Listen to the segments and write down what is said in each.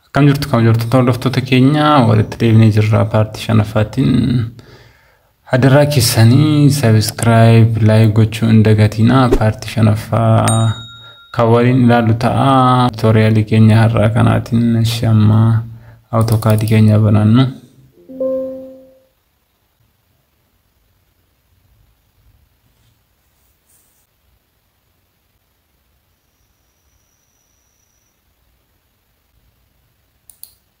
Akkam jirtu kam jirtu hordoftoota keenya walitti deebinee jirra paartii shanaffaatiin Hadaraa kessani subscribe like gochuu hin dagatina paarti shanaffaa kan waliin ilaalu ta'a tutorialii keenya har'aa kanaatiin shamma autokaadii keenya banannu.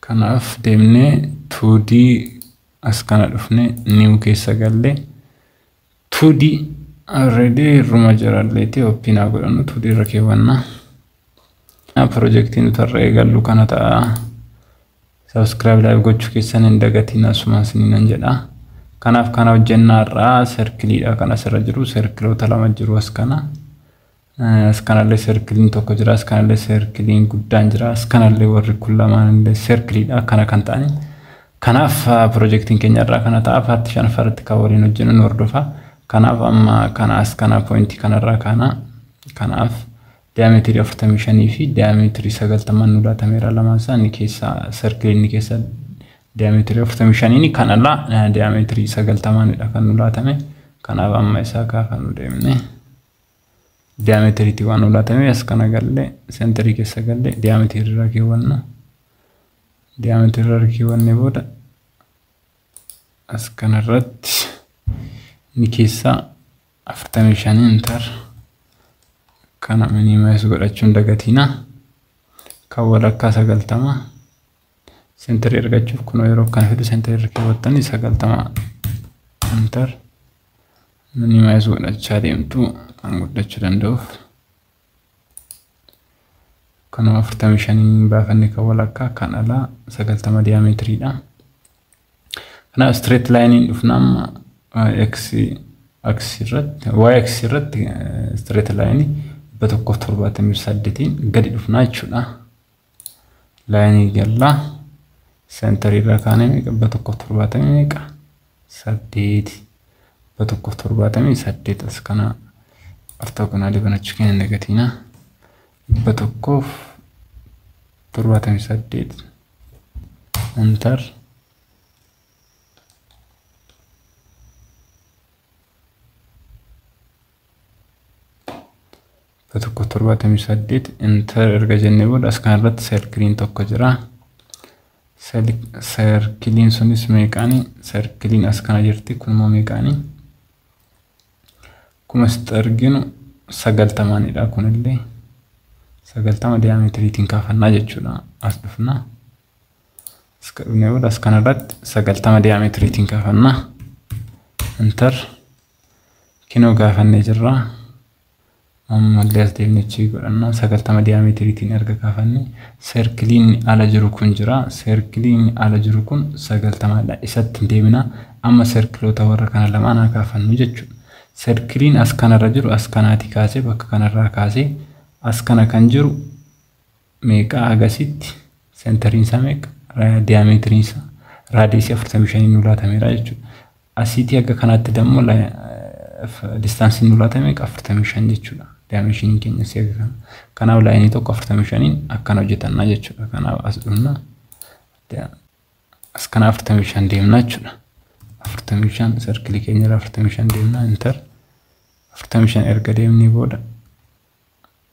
Kanaaf deemne 2D as kana dhufne new keessa galle 2D already irruma jiralleeti ooppiin haa godhannu 2D irra keewwanna. Pirojektiin nuti har'a eegallu kana ta'a. Sabiskiraayib laayif gochuu keessan hin dagatiin asumaan isin nan jedha. Kanaaf kana hojjennaa irraa serkiliidha kan asirra jiru serkiloota lama jiru as kana. As kanallee serkiliin tokko jira. As kanallee serkiliin guddaan jira. As kanallee warri kun lamaanillee serkiliidha. Akkana kan ta'ani. Kanaaf pirojektiin keenya irraa kana ta'a. Paartii shanaffaa irratti kan waliin hojjennu nu hordofa. Kanaaf amma kana as kana poointii kanarraa kaana. Kanaaf diyaameetirii 45 fi diyaameetirii 90 nu laatameera lamaan isaa inni keessa serkiliin inni keessa diyaameetirii 45 kan alaa diyaameetirii 90 dha kan nu laatame. Kanaaf amma isaa kaa kan nu deemne. Diyaameetiriitii waan olaatame as kana galle sentirii keessa galle diyaameetirii irraa keewwanna. Diyaameetirii irraa keewwanne booda as kana irratti ni keessaa afurtamii shanii intar kana minimaayis godhachuun dagatiina kan walakkaa sagaltama. Senteri argachuuf kunoo yeroo akkana fidu senteri irra keewwattanii sagaltama enter minimaayizu godhachaa deemtu kan guddachuu danda'uuf kunoo afurtamii shanii baafanne kan walakkaa kan alaa sagaltama diyaametiridha. Kanaaf straight line dhufna amma x x irratti y x irratti straight line dhibba tokkoof torbaatamii saddeetiin gadi dhufna jechuudha. Laayinii gallaa seentarii irraa kaanee meeqa dhibba tokkoof torbaatamii meeqa saddeeti dhibba tokkoof torbaatamii saddeet as kana ortoogonaalii banachuu keenya negatiinaa dhibba tokkoof torbaatamii saddeet intar tokko torbaatamii saddeet inter erga jennee booda as kana irratti serkiliin tokko jira. Serkiliin sunis meeqaani? Serkiliin as kana jirti kun immoo meeqaani? Akkuma asitti arginu sagaltamaanidha kunillee. Sagaltama diyaameetiriitiin kaafannaa jechuudha. As dhufna. As ka dhufnee booda as kana irratti sagaltama diyaameetiriitiin kaafannaa. Inter kinoo gaafannee jirra. Ammallee as deemnee check godhanna. 90 diyaametiiriitiin erga kaafanne serkiliin ala jiru kun jira. Serkiliin ala jiru kun 90 dha. Isatti deebina. Amma serkiloota warra kana lamaan haa kaafannu jechuudha. Serkiliin as kanarra jiru as kanaatii kaasee bakka kanarraa kaasee as kana kan jiru meeqa agasitti sentariin isaa meeqa diyaameetiriin isaa raadiyeesii 45 nu laatameera jechuudha. Asiitii haga kanaatti dammoo distaansiin nu laatame 45 jechuudha. Daayimeeshiniin keenya si haga kana. Kanaaf laayinii tokko 45n akkan hojjetanna jechuudha. Kanaaf as dhufna. As kana 45 deemna jechuudha. 45 sarkilii keenya irra 45 deemna intar 45 erga deemnee booda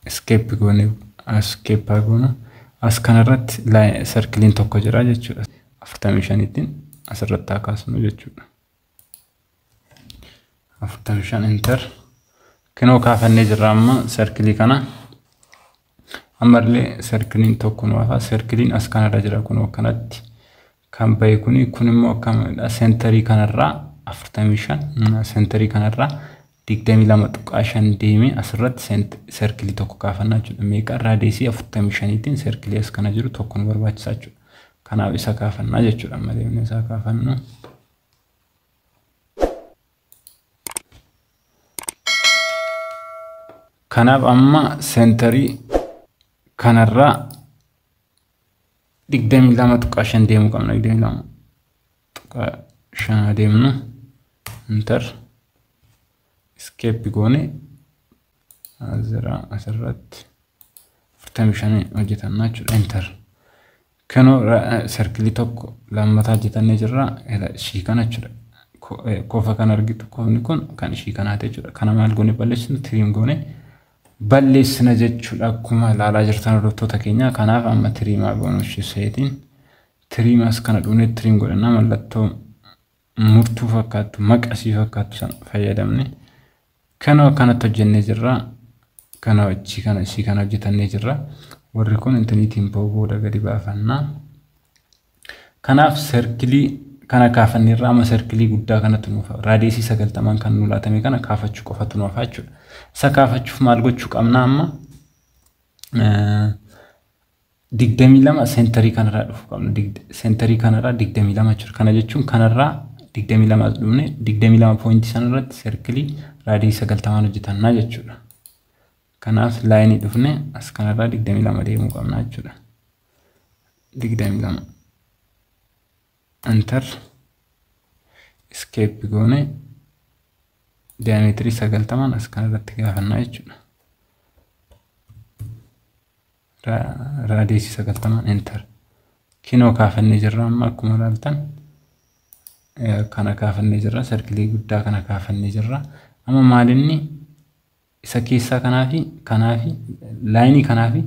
Escape goone escape haa goonu. As kanarratti sarkiliin tokko jira jechuudha. 45tiin asirratti haa kaasnu jechuudha. 45 enter. Kinoo kaafannee jirra amma sarkilii kana. Ammallee sarkiliin tokko nu hafa. Sarkiliin as kanarra jira kunoo akkanatti. kan bahe kuni kun immoo akkamidha sentarii kanarraa 45 sentarii kanarraa 22.5 deemee asirratti sent serkilii tokko kaafannaa jechuudha meeqa raadiyeesii 45tiin serkilii as kana jiru tokko nu barbaachisaa jechuudha kanaaf isa kaafannaa jechuudha amma deemnee isaa kaafannu kanaaf amma sentarii kanarraa digdamii lama tuqaa shan deemuu qabna digdamii lama tuqaa shan adeemnu intar iskeeppi goone azira asirratti afurtamii shan hojjetanna jechuudha intar kanoo sarkilii tokko lammataa hojjetannee jirra ishii kana jechuudha kofa kan argitu kofni kun kan ishii kanaati jechuudha kana maal goone balleessinu tiriim goone balleessina jechuudha akkuma ilaalaa jirtan hordoftoota keenya kanaaf amma tiriimaa goonushu seetiin tiriimas kana dhufnee tiriim godhannaa mallattoo murtuu fakkaattu maqasii fakkaattu sana fayyadamne kanoo kanatti hojjennee jirra kanoo achii kana isii kana hojjetannee jirra warri kun intiniitiin booda gadi baafannaa Kanaaf serkilii kana kaafanne irraa amma serkilii guddaa kanatu nuuf raadiyeesii sagaltamaan kan nu laatame kana kaafachuu qofatu nu hafaa jechuudha. Isa kaafachuuf maal gochuu qabna amma? digdamii lama seentarii kanarraa dhufuu qabna. Seentarii kanarraa digdamii lama jechuudha. Kana jechuun kanarraa digdamii lama as dhufne digdamii lama poointii sanarratti serkilii raadiyeesii sagaltamaan hojjetannaa jechuudha. Kanaaf laayinii dhufne as kanarraa digdamii lama deemuu qabna jechuudha. digdamii lama antar iskeeppi goone diyaameetirii sagaltamaan as kana irratti gaafannaa jechuudha. Raadeesii sagaltamaan enter. Kinoo kaafannee jirra amma akkuma ilaaltan kana kaafannee jirra sarkilii guddaa kana kaafannee jirra. Amma maalinni isa keessaa kanaa fi kanaa fi laayinii kanaa fi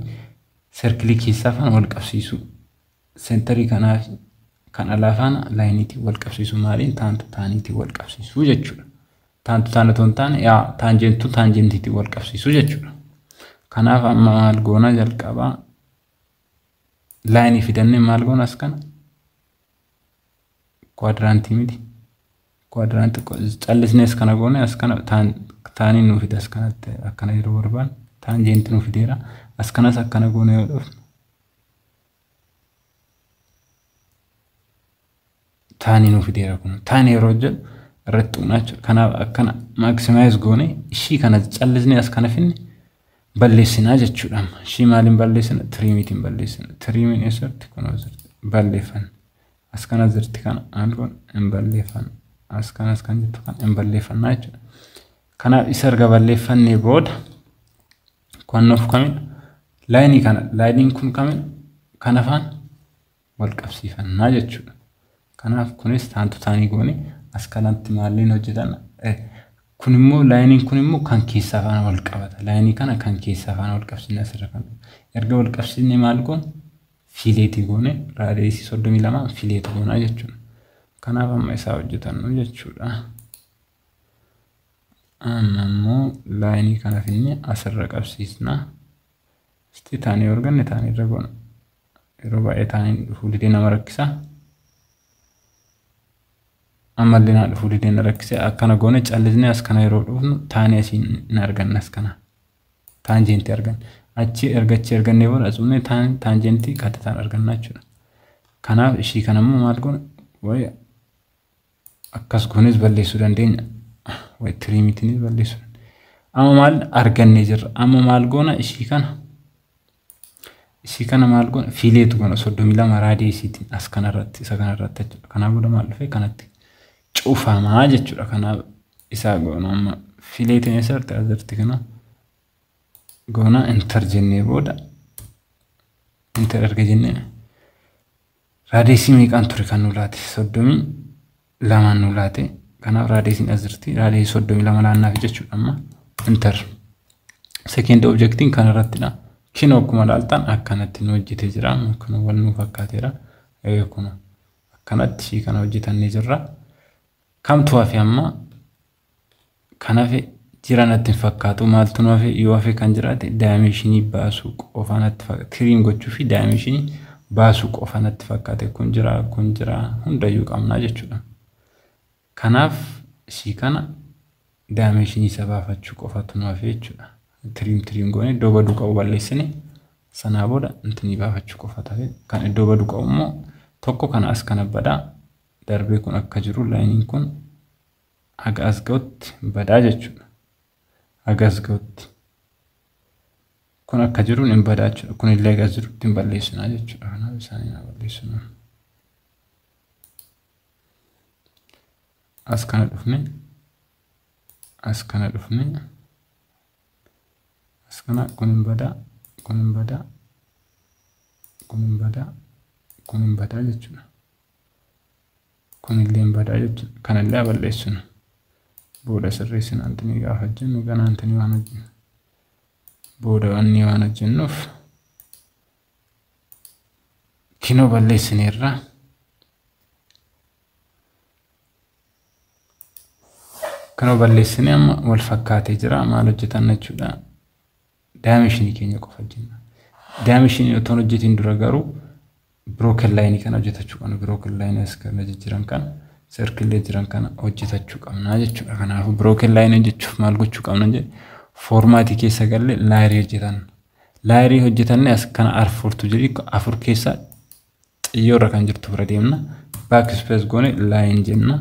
serkilii keessaa faana wal qabsiisuu seentarii kanaa fi kan alaa faana laayiniitiin wal qabsiisuu maaliin taantu taaniitiin wal qabsiisuu jechuudha. Taantu taan otoo hin taane yaa taanjentu taanjentiitiin wal qabsiisuu jechuudha. Kanaaf amma maal goona jalqabaa laayinii fidannee maal goona as kana kwaadiraantii miti. Quadrant xiqqoo callisnees kana goone as kana taan taaniin nuu fida as kanatti akkana yeroo barbaan taan jeenti nuu fideera as kanas akkana goone yoo dhufne taanii nuu fideera kun taan yeroo jedhu irratti tuqna jechuudha kanaaf akkana maaksimaayis goone ishii kana callisnee as kana finne balleessinaa jechuudha ishii maaliin balleessina tiriimiitiin balleessina tiriimiin eessatti kun balleeffanna as kana jirti kana and kun hin balleeffanna as kana as kan jirtu kana hin balleeffanna jechuudha. Kanaaf isa erga balleeffannee booda kan nuuf kamidha laayinii kana laayiniin kun kamidha kan afaan wal qabsiifannaa jechuudha. Kanaaf kunis taantu taanii goone as kanatti maalleen hojjetan kun immoo laayiniin kun immoo kan keessa afaan wal qabata laayinii kana kan keessa afaan wal qabsiisna asirra kan erga wal qabsiisne maal goon fiileetii goone raadiyeesii soddomii lama fiileetii goonaa jechuudha. Kanaaf amma isaa hojjetannu jechuudha. Amma immoo laayinii kana finne asirra qabsiisna. Isti taanii yoo arganne taanii irra goona. Yeroo baay'ee taaniin dhufuu didee nama rakkisa. Ammallee naa dhufuu didee na rakkise akkana goone callisnee as kana yeroo dhufnu taanii asiin hin arganne as kana. taanjeentii arganna. Achi erga achi argannee booda as dhufnee taan taanjeentii qaxxitaan arganna jechuudha. Kanaaf ishii kana immoo maal goona? Wayi akkas goonees balleessuu dandeenya. Wayi tiriimitiinis balleessuu dandeenya. Amma maal argannee jirra? Amma maal goona? Ishii kana Isii kana maal goona fiileetu goona soddomii lama raadiyeesiitiin as kanarratti isa kanarratti jechuudha. Kanaa booda maal dhufee kanatti cufamaa jechuudha. Kanaa isaa goona amma fiileetiin eessarratti asirratti kana goona intar jennee booda intar erga jennee Raadeesii meeqaan ture kan nu laate? Soddomii lamaan nu laate. Kanaaf raadeesiin as jirti. Raadeesii soddomii lama laannaaf jechuudha amma. Inter. Sekeend objektiin kan irrattidha. Kinoo akkuma laaltan akkanatti nu hojjetee jira. Kun wal nu fakkaateera. Kun akkanatti ishii kana hojjetannee jirra. Kamtu hafe amma Kan hafe jira natti hin fakkaatu maaltu nu hafe yoo hafe kan jiraate daayimeeshinii baasuu qofa natti fakkaate tiriim gochuu fi daayimeeshinii baasuu qofa natti fakkaate kun jira kun jira hundayyuu qabnaa jechuudha. Kanaaf ishii kana daayimeeshinii isa baafachuu qofatu nu hafe jechuudha. Tiriim tiriim goone iddoo baduu qabu balleessine sanaa booda intinii baafachuu qofa tafe kan iddoo baduu qabu immoo tokko kana as kana badaa darbee kun akka jiru laayiniin kun Haga as ga'utti badaa jechuudha. Haga as ga'utti. Kun akka jiruun hin badaa jechuudha. Kun illee haga as jirutti hin balleessinaa jechuudha. Kanaaf isaanii haa balleessinaa. As kana dhufne. As kana dhufne. As kana kun hin badaa. Kun hin badaa. Kun hin badaa. Kun hin badaa jechuudha. kunillee hin badaa jechuudha. Kanallee haa balleessinu. Booda sirreessina antini gaafa hojjennu ganaa antini waan hojjennu. Booda wanni waan hojjennuuf kinoo balleessineerra. Kinoo balleessine amma wal fakkaatee jira maal hojjetanna jechuudha. Daayimenshinii keenya qofa hojjenna. Daayimenshinii otoo hin hojjetiin dura garuu birooken laayinii kana hojjetachuu qabna. Birooken laayinii as kana jijjiiran kana serkillee jiran kana hojjetachuu qabna jechuudha. Kanaafuu birooken laayinii hojjechuuf maal gochuu qabna jedhe foormaatii keessa galle laayirii hojjetan. Laayirii hojjetanne as kana arfurtu jedhi afur keessa xiyyoorra kan jirtu bira deemna. Baak ispees goone laayin jenna.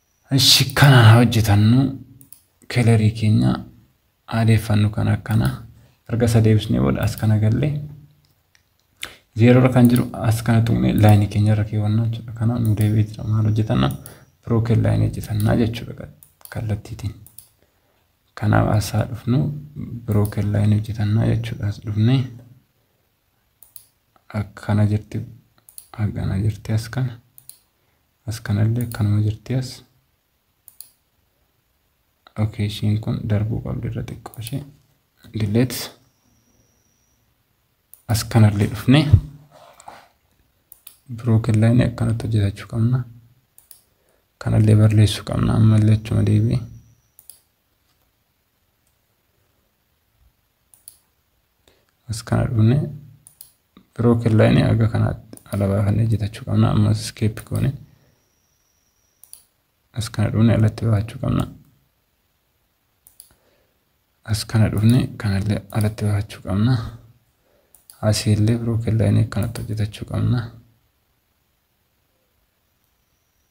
Ishi kana haa hojjetannu kelerii keenya aadeeffannu kana akkana erga isa deebisnee booda as kana galle zeeroo irra kan jiru as kana tuqne laayinii keenya irra keewwanna jechuudha kana nu deebi'ee jira maal hojjetanna pirooken laayinii hojjetannaa jechuudha kallattiitiin kanaaf as haa dhufnu pirooken laayinii hojjetannaa jechuudha as dhufne akkana jirti akkana jirti as kana As kanallee akkanuma jirti as. Okay ishiin kun darbuu qabdi irra xiqqoo ishee. Delete. As kanallee dhufne. Broken line akkanatti hojjetachuu qabna. Kanallee barreessuu qabna ammallee achuma deebi'ee. as kana dhufne broken line aga kanaatti ala baafannee jitachuu qabna ammas escape goone as kana dhufne alatti baafachuu qabna as kana dhufne kanallee alatti baafachuu qabna asiillee broken line akkanatti hojjetachuu qabna.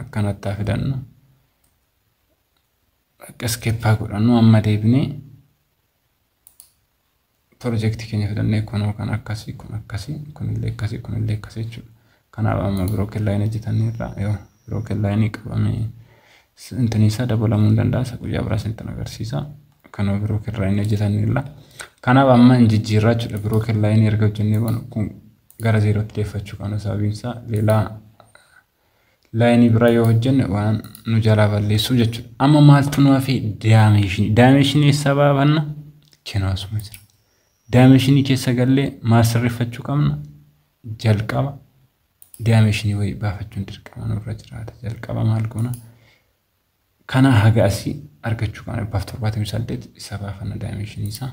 akkanatti haa fidannu akka iskeppaa godhannu amma deebinee pirojektii keenya fidannee kunoo kan akkasii kun akkasii kunillee akkasii kunillee akkasii jechuudha. Kanaaf amma birookin laayinii hojjetannee irraa yoo birookin laayinii qabamee intinii isaa dabalamuu hin danda'a isa guyyaa biraas intin agarsiisa. Kanoo birookin laayinii hojjetannee irraa. Kanaaf amma hin jijjiirraa jechuudha birookin laayinii erga hojjennee kun gara zeerootti deeffachuu qabna sababiin isaa leelaa laayinii biraa yoo hojjenne waan nu jalaa balleessuu jechuudha. Amma maaltu nu hafee daameeshinii daameeshinii eessaa baafanna kenoo asuma jira. Daameeshinii keessa gallee maal sirreeffachuu qabna jalqaba daameeshinii wayii baafachuun dirqama nurra jiraata jalqaba maal goona kana haga asii argachuu qabna dhibbaaf torbaatamii saddeet isa baafanna daameeshinii isaa.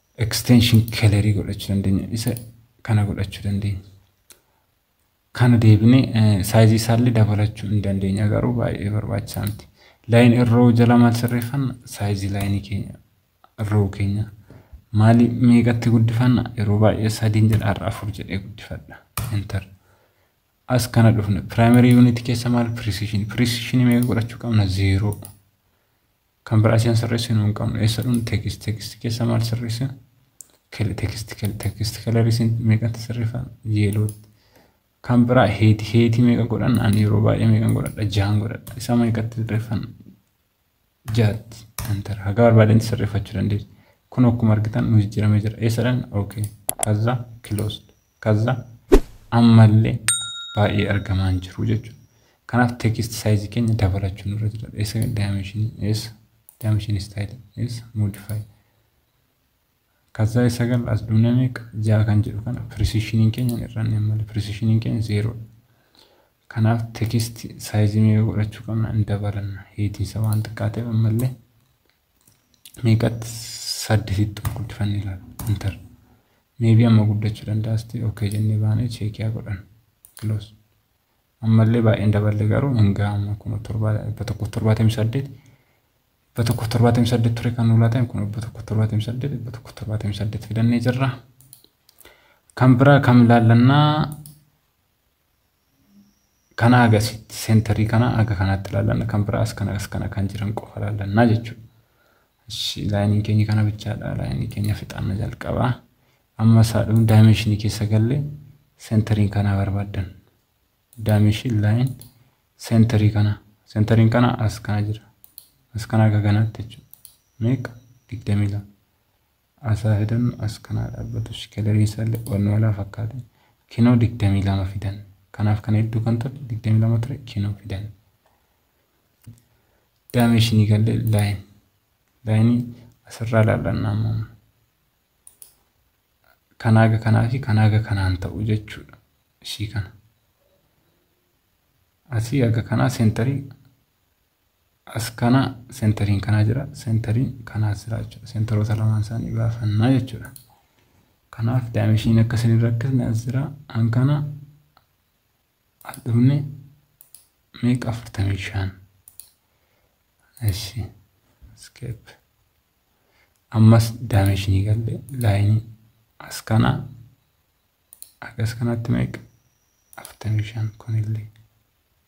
extension kelerii godhachuu dandeenya isa kana godhachuu dandeenya kana deebine saayizii isaallee dabalachuu hin dandeenya garuu baay'ee barbaachisaa miti laayin irroo jala maal sirreeffanna saayizii laayinii keenya irroo keenya maali meeqatti guddifanna yeroo baay'ee sadiin jedha har'a afur jedhee guddifadha enter as kana dhufne primary unit keessa maal precision precision meeqa godhachuu qabna zeeroo Kan biraa isheen sirreessinu hin qabnu. Eessa dhun text text keessa maal sirreessina? Kel- Text kel- text color isin meeqatti sirreeffan? Yeelootti. Kan biraa heeti heeti meeqa godhanna? Ani yeroo baay'ee meeqan godhadha? Jahan godhadha. Isa meeqatti sirreeffanna? Jaatti. Enter. Haga barbaadetti sirreeffachuu dandeessu. Kun akkuma argitan nu jijjiiramee jira. Eessadhan? Okay. Kaza closed. Kazza ammalle baay'ee argamaa hin jiru jechuudha. Kanaaf text size keenya dabalachuu nurra jira. Eessa dimension eessa dimension style eessa modify. Kazza isa gal as duuna meeqa ja'a kan jedhu kana precision keenya hin irranne malee precision keenya zero. Kanaaf text size meeqa godhachuu qabna hin dabalanna. Heetiin isa waan xiqqaa ta'eef ammallee meeqatti saddisitti ol guddifanne ilaala. Inter. Meebii amma guddachuu danda'a sitti okkee jennee baanee cheekiyaa godhan. Kiloos. Ammallee baay'een daballe garuu hin ga'amu kun dhibba tokkoof torbaatamii saddeet dhibba tokkoof torbaatamii saddeet ture kan nu laatan kun dhibba tokkoof torbaatamii saddeet dhibba tokkoof torbaatamii saddeet fidannee jirra. Kan biraa kam ilaallannaa kana agasitti seentarii kana aga kanatti ilaallanna kan biraas kana as kana kan jiran qofa ilaallannaa jechuudha. Ishi laayiniin keenya kana bichaadha laayinii keenya fixaanna jalqaba. Amma isaa dhumu daayimeeshinii keessa galle seentariin kana barbaaddan. Daayimeeshin laayin seentarii kana seentariin kana as kana jira. As kana aga kanatti jechuudha. Meeqa? Digdamii lama. Asaa fidan as kanaa dhaabbatu shikalarii isalle wanni walaa fakkaate kinoo 22 fidan kanaaf kan hedduu kan ture 22 ture kinoo fidan daameeshinii galle laayin laayinii asirraa laallanna amma kanaaga kanaa fi kanaaga kanaan ta'u jechuudha ishii kana asii aga kanaa seentarii as kana sentariin kanaa jira sentariin kanaas jira jechuudha sentaroota lamaan isaanii baafannaa jechuudha kanaaf daayimenshiin akka isin irra akkasni as jira an kana as dhufne meeqa afurtamii shan eshi skeep ammas daayimenshinii galle laayinii as kana akkas kanatti meeqa afurtamii shan kunillee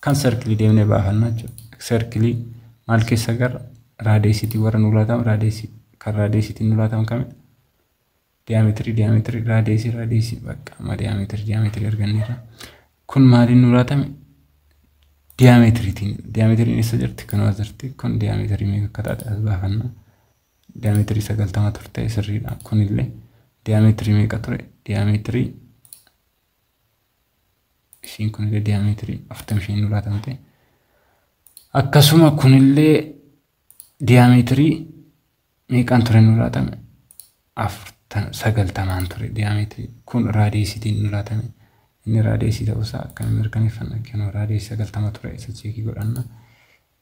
Kan serkilii deemnee baafanna jechuudha. Serkilii maal keessa garra? Raadeesiitiin warra nu laatamu raadeesii kan raadeesiitiin nu laatamu kamidha? Diyaameetirii diyaameetirii raadeesii raadeesii bakka amma diyaameetirii diyaameetirii arganneerra. Kun maaliin nu laatame? Diyaameetiriitiin diyaameetiriin eessa jirti? Kan as jirti. Kun diyaameetirii meeqa akka taate as baafanna. Diyaameetirii sagaltama turte sirriidha. Kunillee diyaameetirii meeqa ture? Diyaameetirii isiin kunillee diyaameetirii 45 nu laatamte akkasuma kunillee diyaameetirii meeqaan ture nu laatame 90 ture diyaameetirii kun raadiyeesitiin nu laatame inni raadiyeesii ta'uusaa akkamiin mirkaneeffanna kennu raadiyeesii 90 ture isa cheekii godhanna.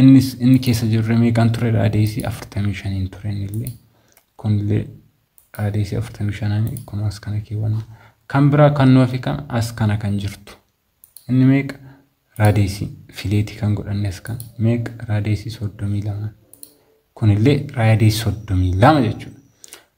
Innis inni keessa jirre meeqaan ture raadiyeesii afurtamii shaniin ture innillee kunillee raadiyeesii afurtamii shanaani kun as kana keewwanna. Kan biraa kan nuuf kan as kana kan jirtu inni meeqa raadiyeesii fileetii kan godhanne as kana meeqa raadiyeesii soddomii lama kunillee raadiyeesii soddomii lama jechuudha.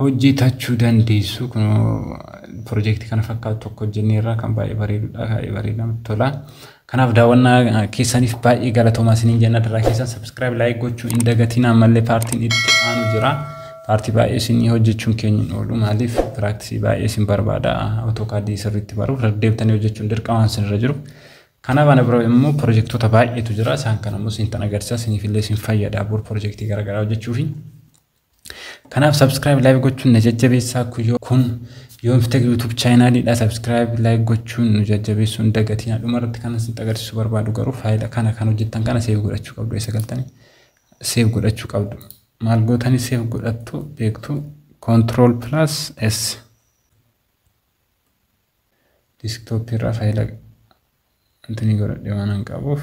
hojjetachuu dandeessu. Kunoo pirojektii kana fakkaatu tokko hojjenneerra kan baay'ee bareedudha. Baay'ee bareeda namatti tola. Kanaaf daawwannaa keessaniif baay'ee galatoomaa isiniin jenna daraa keessan subscribe like gochuu hin dagatiin ammallee paartiin itti aanu jira. Paartii baay'ee isinii hojjechuun keenya hin oolu maaliif piraaksii baay'ee isin barbaada otookaadii sirriitti baruu deebitanii hojjechuun dirqamaan isinirra jiru. Kanaaf ana bira immoo pirojektoota baay'eetu jira isaan kana immoo isin tan agarsiisa isiniif illee isin fayyada bor pirojektii garaagaraa hojjechuufi. Kanaaf subscribe like gochuun na jajjabeessaa kuyyoo kun yoomfiteg YouTube chaayinaaliidha subscribe like gochuun nu jajjabeessuun dagatiin dhuma irratti kan isin agarsiisuu barbaadu garuu faayila kana kan hojjettan kana seef godhachuu qabdu isa galtanii seef godhachuu qabdu maal gootanii seef godhattu beektu control plus s desktop irraa faayila intinii godhadhe waan hin qabuuf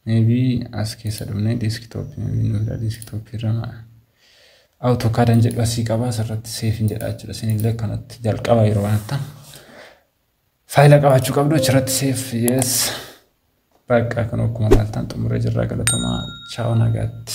Maybe as keessa dhumnee desktop maybe nu fida desktop irra ma AutoCAD an jedhu asii qaba asirratti save hin jedha jechuudha isinillee akkanatti jalqaba yeroo kanatti faayila qabaachuu qabdu achirratti save yes bakka kan akkuma laaltan xumuree jirra galatomaa chaaw nagaatti.